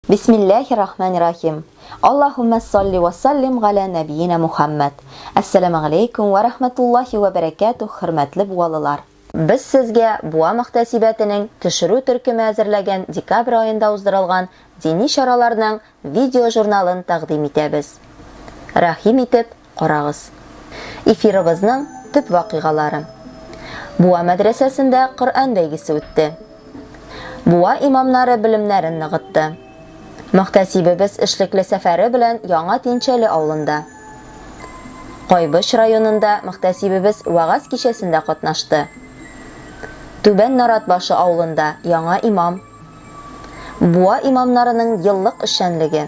Бисмилләхи рахмани рахим. Аллаһуммә салли вә саллим галә нәбиина Мухәммәд. Әссәламәгаләйкүм вә рәхмәтуллаһи вә бәрәкәтүһ хөрмәтле буалылар. Без сезгә Буа мөхтәсибәтенең төшерү төркеме әзерләгән декабрь аенда уздырылган дини чараларның видеожурналын тәкъдим итәбез. Рәхим итеп, карагыз. Эфирыбызның төп вакыйгалары. Буа мәдрәсәсендә Коръән бәйгесе үтте. Буа имамнары белемнәрен ныгытты. Мөхтәсибебез эшлекле сәфәре белән Яңа Тинчәле авылында. Кайбыч районында мөхтәсибебез вагаз кичәсендә катнашты. Түбән Наратбашы авылында яңа имам. Буа имамнарының еллык эшчәнлеге.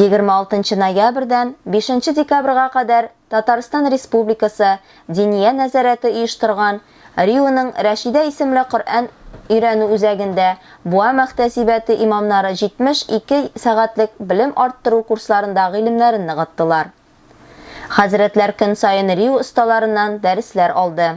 26 ноябрьдән 5 декабрьга кадәр Татарстан Республикасы Диния нәзарәте оештырган Риуның Рәшидә исемле Коръән өйрәнү үзәгендә Буа мәхтәсибәте имамнары 72 сәгатьлек белем арттыру курсларында гыйлемнәрен ныгыттылар. Хәзрәтләр көн саен Риу осталарыннан дәресләр алды.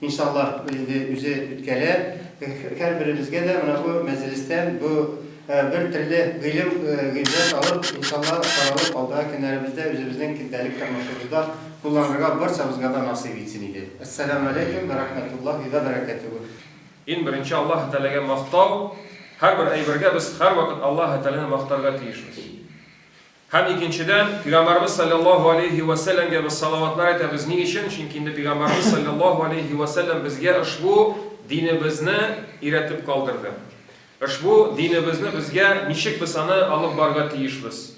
Иншаллаһ, инде үзе үткәрә. Һәрберебезгә дә менә бу мәҗлестән бу бер төрле гыйлем, гыйбрәт алып, иншаллаһ, таралып, алдагы көннәребездә үзебезнең көндәлек тормышыбызда кулланырга барчабызга да насыйп итсен иде. Әссәламү галәйкүм вә рәхмәтуллаһи вә бәрәкәтүһү. Иң беренче Аллаһы Тәгаләгә мактау, һәрбер әйбергә без һәрвакыт Аллаһы Тәгаләне мактарга тиешбез. Һәм икенчедән, Пигамбарыбыз салләллаһу алейһи вә сәлләмгә без салаватлар әйтәбез, ни өчен? Чөнки инде Пигамбарыбыз салләллаһу алейһи вә сәлләм безгә ошбу динебезне өйрәтеп калдырды. Ошбу динебезне безгә ничек без аны алып барырга тиешбез?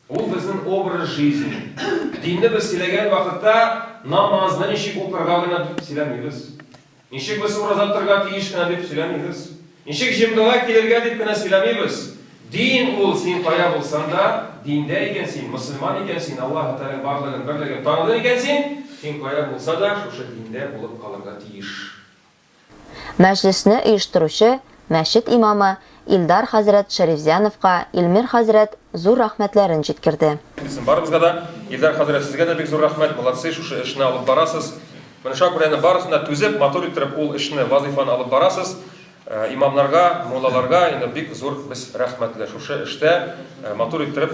Ул безнең образ жизни. Динне без сөйләгән вакытта, намазны ничек укырга гына дип сөйләмибез. Ничек без ураза тотарга тиеш кенә дип сөйләмибез. Ничек җомгага килергә дип кенә сөйләмибез. Дин ул, син кая булсаң да, диндә икән син, мөселман икән син, Аллаһы Тәгаләнең барлыгын, берлеген таныдың икән син, син кая булса да, шушы диндә булып калырга тиеш. Мәҗлесне оештыручы мәчет имамы Илдар хәзрәт Шәрифзяновка Илмир хәзрәт зур рәхмәтләрен җиткерде. Исм барыбызга да. Илдар хәзрәт сезгә дә бик зур рәхмәт, молодцы, шушы эшне алып барасыз. Менә шуңа күрә әнә барысына түзеп, матур иттереп ул эшне, вазыйфаны алып барасыз. Имамнарга, муллаларга инде бик зур без рәхмәтле. Шушы эштә матур иттереп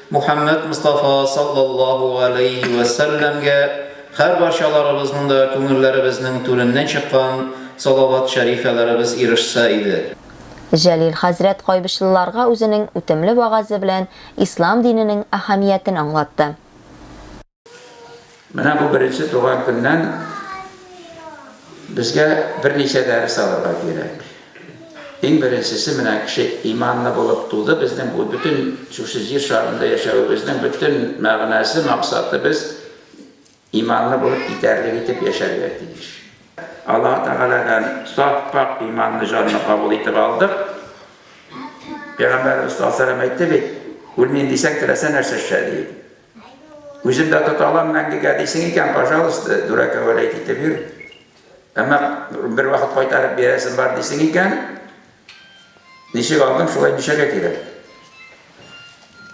Мухәммәд Мостафа саллаллаһу галәйһи вә сәлләмгә һәрбарчаларыбызның да күңелләребезнең түреннән чыккан салават-шәрифәләребез ирешсә иде. Җәлил хәзрәт кайбычлыларга үзенең үтемле вәгазе белән ислам диненең әһәмиятен аңлатты. Менә бу беренче туган көннән безгә берничә дәрес алырга кирәк. Иң беренчесе менә кеше иманлы булып туды, безнең бу бөтен шушы җир шарында яшәвебезнең бөтен мәгънәсе, максаты без иманлы булып итәрлек итеп яшәргә тиеш. Аллаһ Тәгаләдән саф пак иманлы җанны кабул итеп алдык. Пәйгамбәрбез саллаллаху әйтте бит, үлмим дисәң, теләсә нәрсә эшлә ди. Үзем дә тота алам мәңгегә дисең икән, пожалуйста, дүрәкә вәләйт итеп йөр. Әмма бер вакыт кайтарып бирәсең бар дисең икән, ничек алдың, шулай ничәгә кирәк?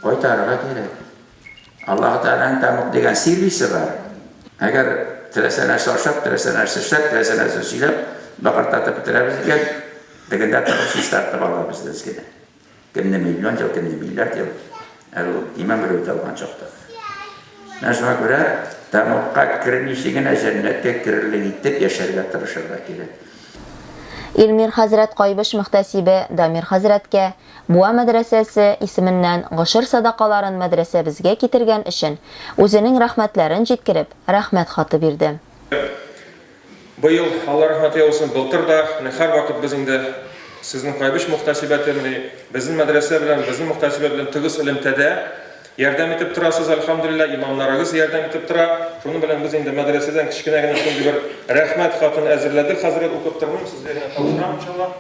Кайтарырга кирәк. Аллаһ Тәгаләнең тәмук дигән сервисы бар. Әгәр теләсә нәрсә ашап, теләсә нәрсә эшләп, теләсә нәрсә сөйләп, бакыртатып бетерәбез икән, дегендә тырыш чистартып алабыз без генә. Кемне миллион ел, кемне миллиард ел, ә ул иман белү табган чакта. Менә шуңа күрә тәмугка кермичә генә җәннәткә керерлек итеп яшәргә тырышырга кирәк. Илмир хәзрәт Кайбыч мөхтәсибе Дамир хәзрәткә Буа мәдрәсәсе исеменнән гошер садакаларын мәдрәсәбезгә китергән өчен үзенең рәхмәтләрен җиткереп, рәхмәт хаты бирде. Быел, Алла рәхмәт яусын, былтыр да, менә һәрвакыт без инде сезнең Кайбыч мөхтәсибәте, менә безнең мәдрәсә белән, безнең мөхтәсибәт белән тыгыз элемтәдә. Ярдәм итеп торасыз, әлхәмдүлилләһ, имамнарыгыз ярдәм итеп тора. Шуның белән без инде мәдрәсәдән кечкенә генә шундый бер рәхмәт хатын әзерләдек. Хәзрәт, укып тормыйм, сезгә генә тапшырам, иншаллаһ.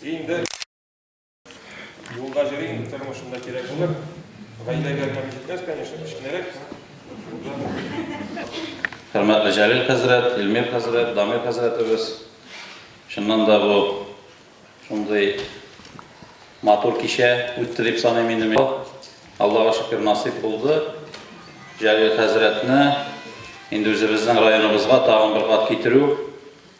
Инде. Юлга җөрий инде тормышында кирәк булыр. Гаиләгә генә җитмәс, конечно, кечкенәрәк. Хөрмәтле Җәлил хәзрәт, Илмир хәзрәт, Дамир хәзрәтебез. Чыннан да бу шундый матур кичә үтте дип саныйм инде мин. Аллага шөкер насыйп булды. Җәлил хәзрәтне инде үзебезнең районыбызга тагын бер кат китерү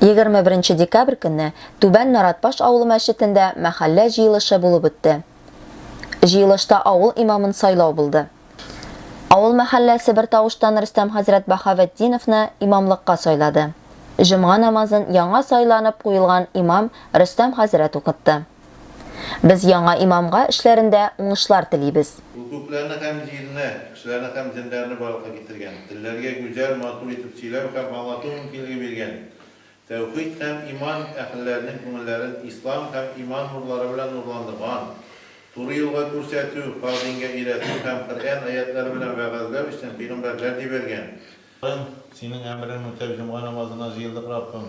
21 декабрь көнне Түбән Наратбаш авылы мәчетендә мәхәллә җыелышы булып үтте. Җыелышта авыл имамын сайлау булды. Авыл мәхәлләсе бер тавыштан Рөстәм хәзрәт Баһаветдиновны имамлыкка сайлады. Җомга намазын яңа сайланып куелган имам Рөстәм хәзрәт укытты. Без яңа имамга эшләрендә уңышлар телибез. Ул күкләрне һәм җирне, кешеләрне һәм җеннәрне барлыкка китергән, телләргә гүзәл, матур итеп сөйләү һәм аңлату мөмкинлеге биргән. Тәүхид һәм иман әһелләренең күңелләрен ислам һәм иман нурлары белән нурландырган. Туры юлга күрсәтү, хак дингә өйрәтү һәм Коръән аятьләре белән вәгазьләү эшен пигамбәрләр дибәргән. Синең әмерең үтәп, җомга намазына җыелдык, Раббым.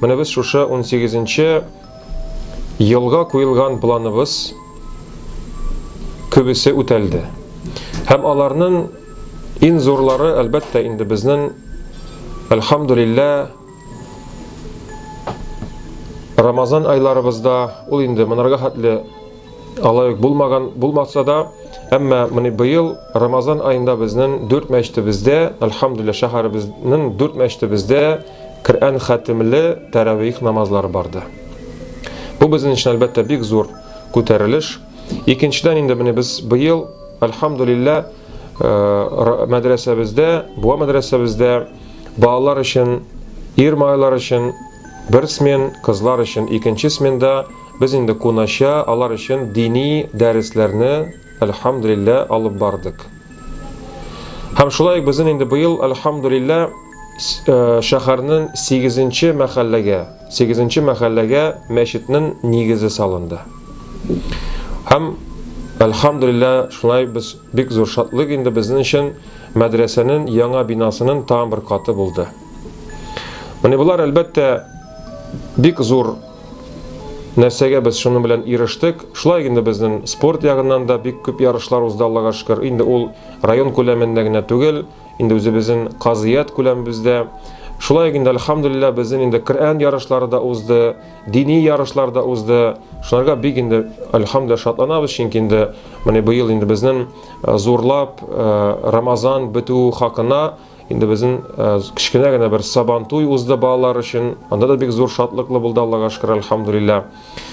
Менә без шушы унсигезенче елга куелган планыбыз күбесе үтәлде. Һәм аларның иң зурлары, әлбәттә, инде безнең, әлхамдулиллә, Рамазан айларыбызда, ул инде монарга хәтле Алай ук булмаган булмаса да, әмма менә быел Рамазан аенда безнең дүрт мәчетебездә, альхамдулилла, шәһәребезнең дүрт мәчетебездә Коръән хатимле тәравих намазлары барды. Бу безнең өчен әлбәттә бик зур күтәрелеш. Икенчедән инде менә без быел, альхамдулилла, э, мәдрәсәбездә, буа мәдрәсәбездә балалар өчен, ир малайлар өчен бер смен, кызлар өчен икенче сменда Без инде кунача алар өчен дини дәресләрне, әлхәмдүлиллә, алып бардык. Һәм шулай ук безнең инде быел, әлхәмдүлиллә, э, шәһәрнең 8 мәхәлләгә, 8 мәхәлләгә мәчетнең нигезе салынды. Һәм әлхәмдүлиллә, шулай без бик зур шатлык инде безнең өчен мәдрәсәнең яңа бинасының тагын бер каты булды. Менә болар әлбәттә бик зур Нәрсәгә без шуның белән ирештек? Шулай инде безнең спорт ягыннан да бик күп ярышлар узды, Аллага шөкер. Инде ул район күләмендә генә түгел, инде үзебезнең казыят күләмебездә. Шулай ук инде, альхамдулилла, безнең инде Коръән ярышлары да узды, дини ярышлар да узды. Шуларга бик инде, альхамдулилла, шатланабыз, чөнки инде менә быел инде безнең э, зурлап э, Рамазан бетү хакына Инде безнең э, кечкенә генә бер сабантуй узды балалар өчен. Анда да бик зур шатлыклы булды, Аллага шөкер, альхамдулилла.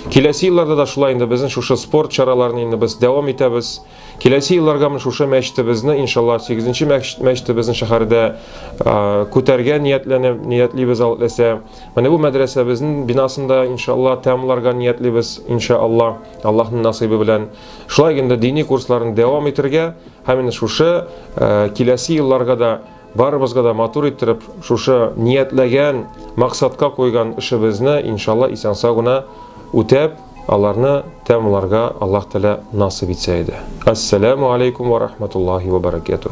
Киләсе елларда да шулай инде безнең шушы спорт чараларын инде без дәвам итәбез. Киләсе елларга менә шушы мәчетебезне, иншалла, 8-нче мәчетебезнең шәһәрдә э, күтәргә ниятләнеп, ниятлибез алласа. Менә бу мәдрәсәбезнең бинасында иншалла тәмамларга ниятлибез, иншалла, Аллаһның насыйбы белән. Шулай инде дини курсларын дәвам итәргә Һәм инде шушы киләсе елларга да барыбызга да матур иттереп шушы ниятләгән, максатка куйган эшебезне иншалла исән-сау гына үтәп, аларны тәмамларга Аллаһ Тәгалә насыйп итсә иде. Ассаламу алейкум ва рахматуллахи ва баракатуһ.